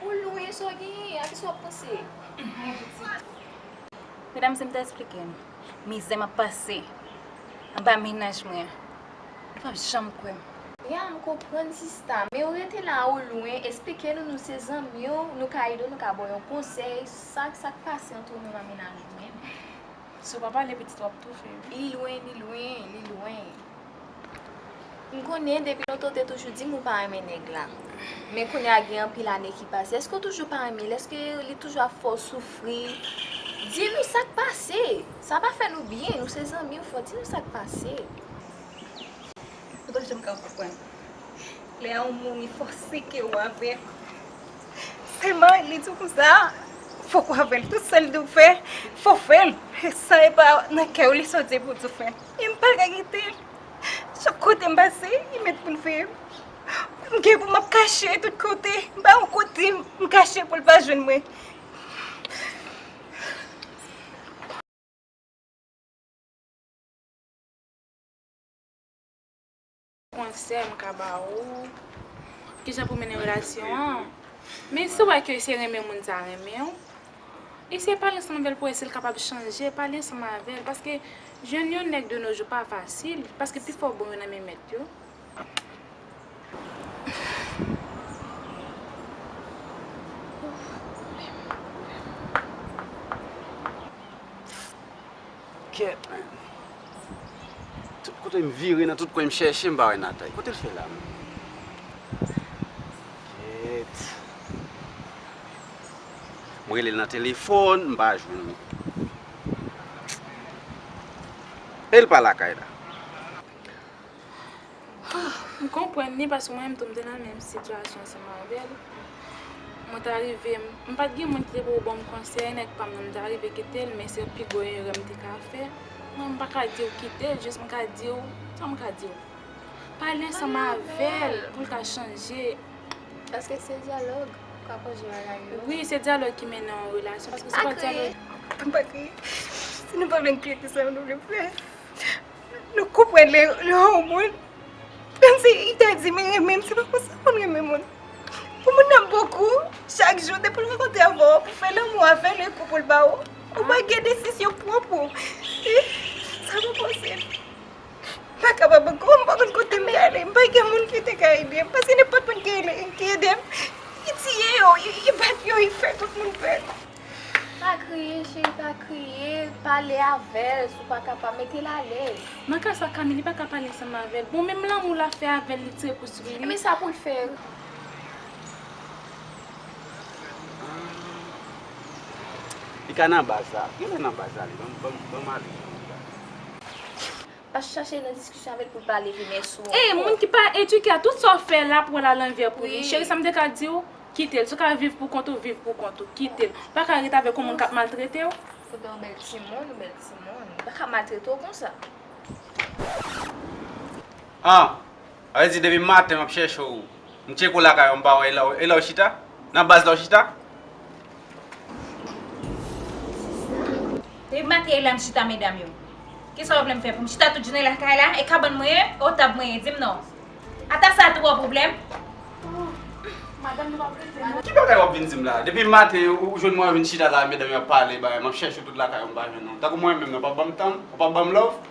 Ou lwen sa w genyen a, kisa w ap panse? Mwen pitit. Medam se m ta esplike nou mizè m ap pase anba mennaj mwen an, nou p ap janm kwè m. Ya m konprann sista, men ou rete la ou lwen, esplike nou nou se zanmi w, nou ka ede w, nou ka ba w yon konsèy, sa k sa k pase antre w menm ak mennaj ou menm? Si w pa pale pitit w ap toufe. Li lwen, li lwen, li lwen. M konnen depi lontan w te toujou di m ou pa renmen nèg la. Men kounye a gen anpil ane ki pase. Èske w toujou pa renmen l? Èske li toujou ap fè w soufri? Di nou sa k pase? Sa pa fè nou byen. Nou se zanmi w fò. Di nou sa k pase? Ou pa janm ka konprann. Lè yon moun li fòse ke ou avè l. Selman li di w konsa, fòk w avè l. Tout sa l di w fè, fò w fè l. San e pa nan kè w li soti pou w di w fè l. E m pa ka kite l. Chak kote m pase, li met pou l veye m. M gen pou m ap kache tout kote. M pa gen yon kote m kache pou l pa jwenn mwen. Konsèy m ka ba ou, kijan pou mennen relasyon an, men si w wè ke se renmen moun sa renmen w, eseye pale ansanm avè l pou wè si l kapab chanje, pale ansanm avè l, paske jwenn yon nèg de no jou pa fasil, paske pi fò bon yo nan men mèt yo. Kèt menn. Tout kote m vire nan tout kwen m chèche m pa wè Nathalie. Kote l fè la menm? Kèt. M rele l nan telefòn m pa jwenn li. E l pa lakay la. M konprann li paske mwen menm tou m te nan menm sitiyasyon ansanm avèl. Mwen ta rive, m pat gen moun ki te pou banm konsèy, nèg pam nan m ta rive kitel men se pi gwo erè m te ka fè. Mwen m pa ka diw kitel jis m ka diw, sa m ka diw? Pale ansanm avèl poul ka chanje. Paske se dyalòg ou ka kònje bagay yo. Wi se dyalòg ki mennen yon relasyon paske si pa dyalòg. Pa kriye, pa kriye. Si nou pa vle n kriye ki sa nou vle m fè? Nou konprann lè yon moun menm si li ta di li renmen m se pa konsa moun renmen moun. Pou moun nan bon kou, chak jou depi l rankontre avè w pou fè lanmou avè l e kou pou l ba w, ou pa gen desizyon pwòp ou. Sa pa posib. M pa kapab ankò, m pa konn kote m prale, m pa gen moun ki te ka ede m paske nenpòt moun ki ede m, li tiye yo, li bat yo, li fè tout moun pè. Pa kriye cheri pa kriye pale avèl si w pa kapab metel alèz. Nan ka sa Camille li pa ka pale ansanm avèl bon menm lanmou lap fè avèl li tire kou sou li wi. Men sa poul fè wi. Li ka nan baz la. Genlè nan baz la li. Banm ale. Pa chache nan diskisyon avèl poul pa leve men sou ankò. Ey moun ki pa eduke a tout sa w fè lap wèl a lanvè pou li cheri sa m te ka diw kitel si w ka viv pou kont ou viv pou kont ou kitel ou paka ret avèk yon moun kap maltrete w. Foudan yon bèl timoun yon bèl timoun li paka maltrete w konsa. An Sa vle di depi maten map chèche w M tcheke w lakay ou m pa wè e la w e la w chita? Nan baz la w chita? Depi maten e la m chita medam yo Kisa w vle m fè pou m chita tout jounen lakay la e kabann mwen e o tab mwen e di m non Ata sa tou an pwoblèm Madanm nou pa vle di nou Ki bagay wap vin di m la Depi maten ou jwenn mwen vin chita la medam yo ap pale bagay map chèche w tout lakay ou m pa jwenn ou Tankou mwen menm nan w pa banm tan m ou pa banm love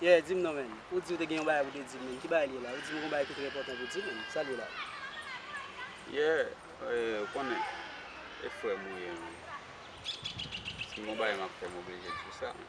Yeah dim non menn, ou di ou te gen yon bagay pou te dim menn, ki bagay li ye la? Ou dim ou gen yon bagay ki trè enpòtan pou di menn, sa li ye la? Yeah eh ou konnen e frèm ou ye non, si m gon bagay map fè m oblije di w sa non.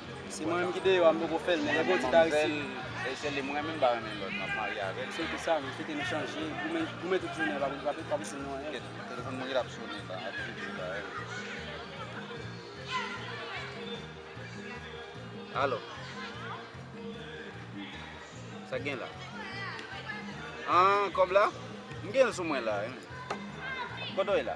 Se mwen menm ki deyò a m poko fèl men lè Bondye ta resi. Manman m fèl e se li m renmen m pa renmen lòt map marye avèl. Se pou sa nou kite nou chanje goumen goumen tout jounen pa pou pa pou fini nou anyen. Ket telefon mwen ki tap sone la ap vibre la e wi. Alo Sak gen la An kòb la m genl sou mwen la e wi Kote w ye la.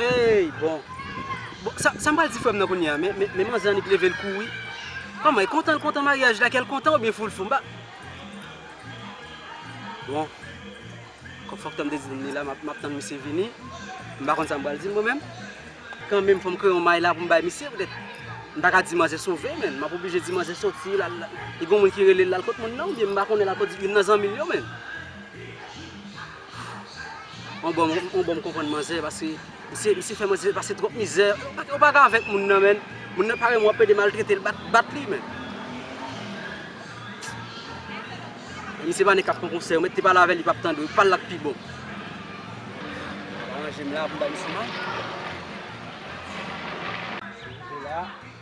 Hey bon Bon sa sa m pral di frè m nan kounye a men men manzè annik leve l kouri Kòman e kontan l kontan maryaj la kè l kontan oubyen fou l fou m pa Bon Kòm fòk tan m te di m li la m ap tann misye vini M pa konn sa m pral di l mwen menm Kan menm fò m kreye yon may la pou m bay misye petèt M pa ka di manzè sove men m ap oblije di manzè soti l al Li gen yon moun ki rele l l al kot moun nan oubyen m pa konnen l al kot youn nan zanmi l yo men On bon on bon konprann manzè paske misye misye fè manzè pase twòp mizè ou pa ka avèk moun nan menn moun nan pare wap ede maltretel bat bat li menn misye pa nèg kap pran konsèy ou mèt te pale avèl li pap tandew pal la k pi bon aranjem la poum bay misye manjel la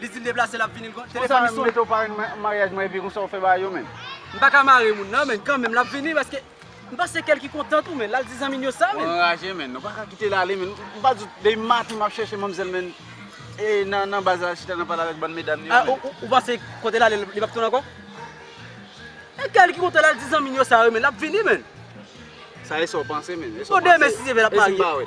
Li di l deplase lap vini. Konsa menm mete w parenn maryaj mwen epi konsa w fè bagay yo menm. M pa ka mare moun nan men kanmenm lap vini paske m panse kè l ki kontan tou menn lal di zanmi l yo sa menn. Ou anraje menn. Ou pa ka kite l ale menn. M pa di w depi maten map chèche manmzèl menn e nan baz la lap chita nan pale avèk bann medam yo menn. A ou panse kote l ale li pap tounen ankò? E kè l ki kontan lal di zanmi l yo sa yo menn lap vini menn. Sa e sa w panse menn. Bon demen si Dye vle lap marye.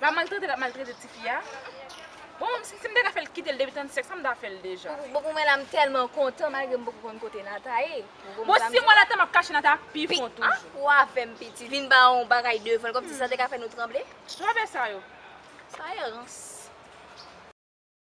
La maltrete lap maltrete tifi a bon sim ta ka fèl kitel depi 35 sa m ta fèl deja. Bon pou mwen la m tèlman kontan malgre m poko konn kote Natha ye. Bon si mwen la ta map kache Natha pi fon toujou. Pi an wa fèm piti vin ba yon bagay devanl kòmsi sa te ka fè nou tranble. Travè sa yo. Sa ye rans.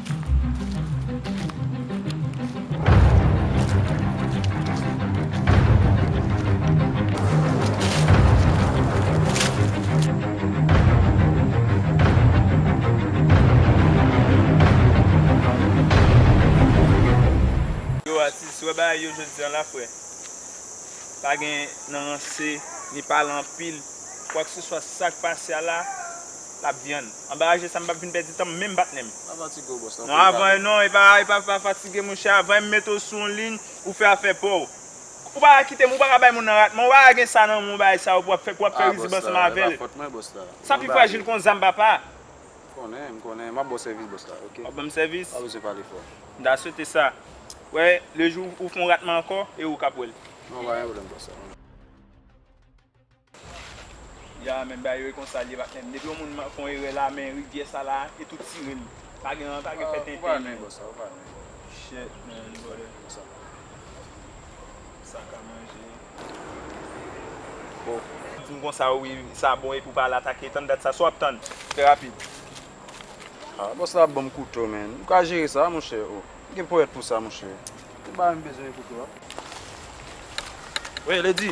Yo atis wè bagay yo jodi an la frè pa gen nan ranse ni pale anpil kwak se swa sak pase a la Lap di ann. Anbaraje sa m pap vin pèdi tan m menm bat nen m. Pa fatige w bòs nan pil bagay. Non epa epa pa fatige monchè avan m mete w sou yon liy ou fè afè pa w. Ou pa ka kite m ou pa ka bay moun nan rat man ou pa ka gen sa nan menw bagay sa yo pou wap fè pou wap fè rizib ansanm avè l. Sa pi frajil kon zam papa. M konnen m konnen map ba w sèvis bòs la ok. Wap ban m sèvis? Pa bezwen pale fò. M ta swete sa. Wè le jou ou fon rat man ankò e ou kap wè l. Non pa gen pwoblèm bòs. Ya men bagay yo e konsa li ye patnèm depi yon moun fon erè la men rivyè sa la e tou tirel pa gen pa gen fè tenten nan yo shit man brother sa ka manje oh. Dim konsa wi sa bon epi ou pa al atake tann dat sa sa wap tann fè rapid. Ah boss la banm kouto man ou ka jere sa monchè oh ou gen ponyèt pou sa monchè ou pa menm bezwen kouto a. Wee lady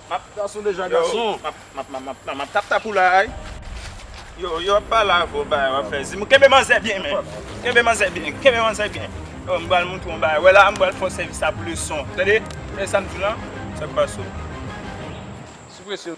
Map gason deja gason. Map tap tap ou la ay. Yo yo ap pale avè w bagay wap fè dim kenbe manzè byen menn kenbe manzè byen kenbe manzè byen m bal montre w yon bagay wè la a m bal fè w sèvis la pou leson tande tande sa m di w lan sak pase w. Sou presyon.